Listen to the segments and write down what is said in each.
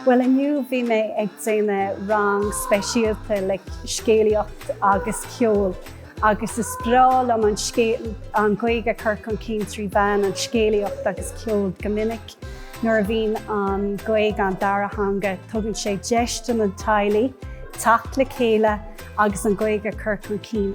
Bhuel inniu bhí mé ag déanamh rang speisialta le scéalaíocht agus ceol agus is breá liom an Ghaeilge a chur chun cinn trí mheán an scéalaíocht agus ceol. Go minic nuair a bhíonn an Ghaeilge an dara theanga tugann sé deis do na teaghlaigh teacht le chéile agus an Ghaeilge a chur chun cinn.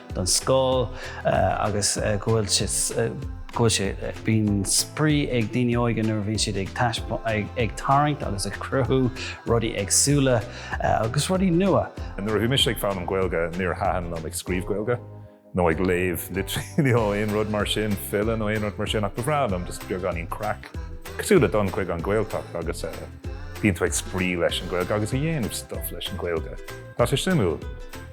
don scoil agus go bhfuil sé bíonn spraoi ag daoine óige nuair a bhíonn siad ag tarraingt agus ag cruthú rudaí éagsúla agus rudaí nua. Nuair a bhí mise ag foghlaim Gaeilge níor thaitin liom ag scríobh Gaeilge nó ag léamh litríocht nó aon rud mar sin, file nó aon rud mar sin ach ba bhreá liom just beagáinín craic. Cosúil le dul chuig an Ghaeltacht agus eh, bíonn tú ag spraoi leis an Ghaeilge agus a dhéanamh stuff leis an Ghaeilge. Tá sé suimiúil.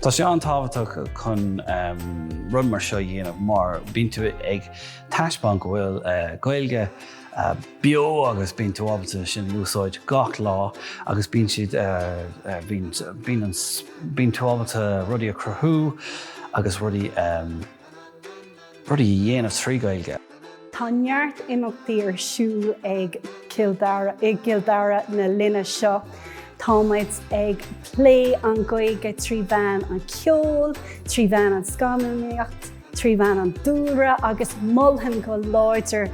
Tá sé an-tábhachtach chun rud mar seo a dhéanamh mar bíonn tú ag taispeáint go bhfuil eh, Gaeilge eh, beo agus bíonn tú ábalta sin úsáid gach lá agus bíonn siad eh, bíonn tú ábalta rudaí a cruthú agus rudaí rudaí a dhéanamh trí Ghaeilge. Tá neart imeachtaí ar siúl i gCill Dara na linne seo. Tá muid ag plé an Ghaeilge trí mheán an cheoil, trí mheán an scannánaíocht, trí mheán an dúlra agus mholfainn go láidir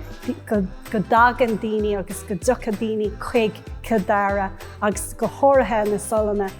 go dtagann daoine agus go dtiocfaidh daoine chuig Cill Dara agus go háirithe na Solláin.